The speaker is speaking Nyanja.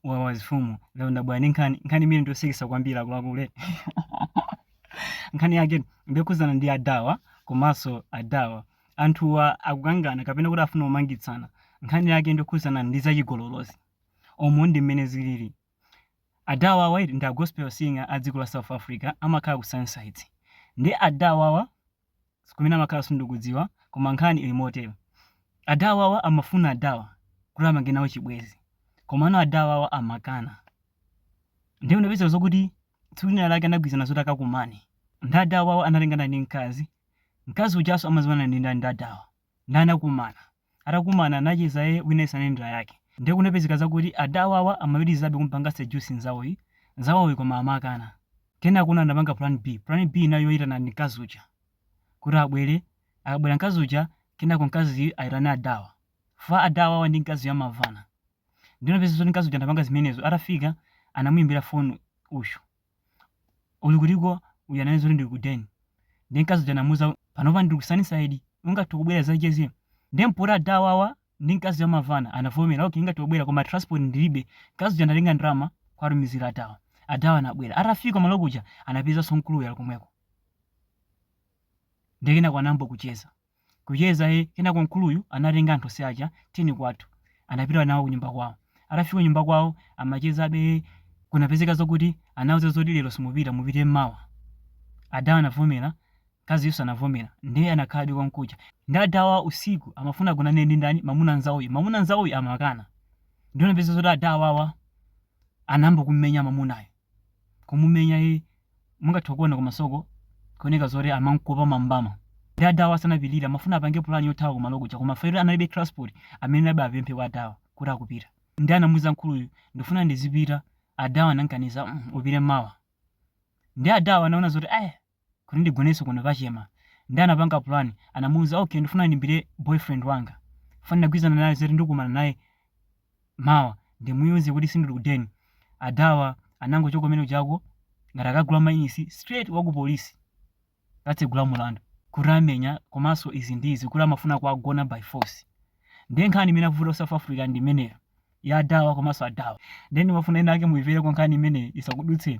wa mafumu lero ndabwera ndi nkhani nkhani imene ndiosekesa kwambiri akuluakulu nkhani yake ndiyokhudzana ndi adawa komanso adawa anthuwa akukangana kapena kuti afuna kumangitsana nkhani yake ndiyokhudzana ndi zachigololozi umo ndi mmene zilili adawa awa ndi a gospel singer a dziko la south africa amakhala ku sunnyside ndi adawa awa kumene amakhala sindikudziwa koma nkhani ili motero. Adawawa amafuna adawa kuti apange nawo chibwenzi komano adawawa amakana. Ndiye kunapezeka zokuti tsiku lina lake anagwirizana zoti akakumane. Nde adawawa anatengana ndi mkazi, mkazi ujanso amadziwana ndi ndani ndi adawa. Nde anakumana. Atakumana anacheza ee wina aliyense anali ndi lake. Nde kunapezeka zakuti adawawa amapitilizabe kumupanga seduce nzawoyi, nzawoyi koma amakana. Kenakona anapanga plan B. Plan B inali yoyitana ndi mkazi uja kuti abwere. Akabwera mkazi uja kenako mkaziyu ayitane adawa. Chifukwa adawawa ndi mkaziyu amamvana. Nde kunapezeka zoti mkazi uja anapanga zimenezo atafika anamuyimbira phone uyu. uyu uli kutiko uyu ananena zoti ndili ku den ndi mkazi uja anamuza panopa ndili ku sunnyside ungathe kubwera uzacheze nde mpoti adawawa ndi mkazi amamvana anavomera okay ningathe kubwera koma transport ndilibe mkazi uja anatenga ndalama kwatumizira adawa adawa anabwera atafika malo kuja anapezanso mkuluyo ali komweko nde kenaka anayamba kucheza kucheza ee kenako mkuluyu anatenga anthu onse aja tiyeni kwathu anapita nawo kunyumba kwawo atafika kunyumba kwawo amachezabe ee kunapezeka zokuti anauza zoti lero simupita mupite mmawa adawa anavomera mkaziyunso anavomera ndiye anakhala konkuja ndi adawa usiku amafuna agonane ndi ndani mamuna nzawoyu mamuna nzawoyu amakana ndiye kunapezeka zoti adawawa anayamba kummenya mamunayo kumumenya yi mungathe kuona kumasoko kuoneka zoti amamphopa mambama nde adawa sanapilire amafuna apange pulani yothawa kumalo kuja koma chifukwa choti analibe transport amanamabe apemphe kwa adawa kuti akupita nde anamuuza mkuluyu ndifuna ndizipita adawa anankaniza "Mm, upite mmawa nde adawa anaona zoti aya kuti ndigonenso kuno pachema nde anapanga plan anamuuza ok ndifuna ndimuimbire boyfriend wanga chifukwa ndinagwirizana naye zoti ndikumana naye mawa ndimuuze kuti sindili ku den adawa anangochoka mmenemujako ngati akagula mayunitsi straight wa ku polisi kukatsegula mlandu kuti amenya komanso izi ndi izi kuti amafuna kuwagona by force ndiye nkhani imene yavuta ku south africa ndi imeneyo ya adawa komanso adawa then mafumu ena ake muimvere kwa nkhani imeneyi isakudutseni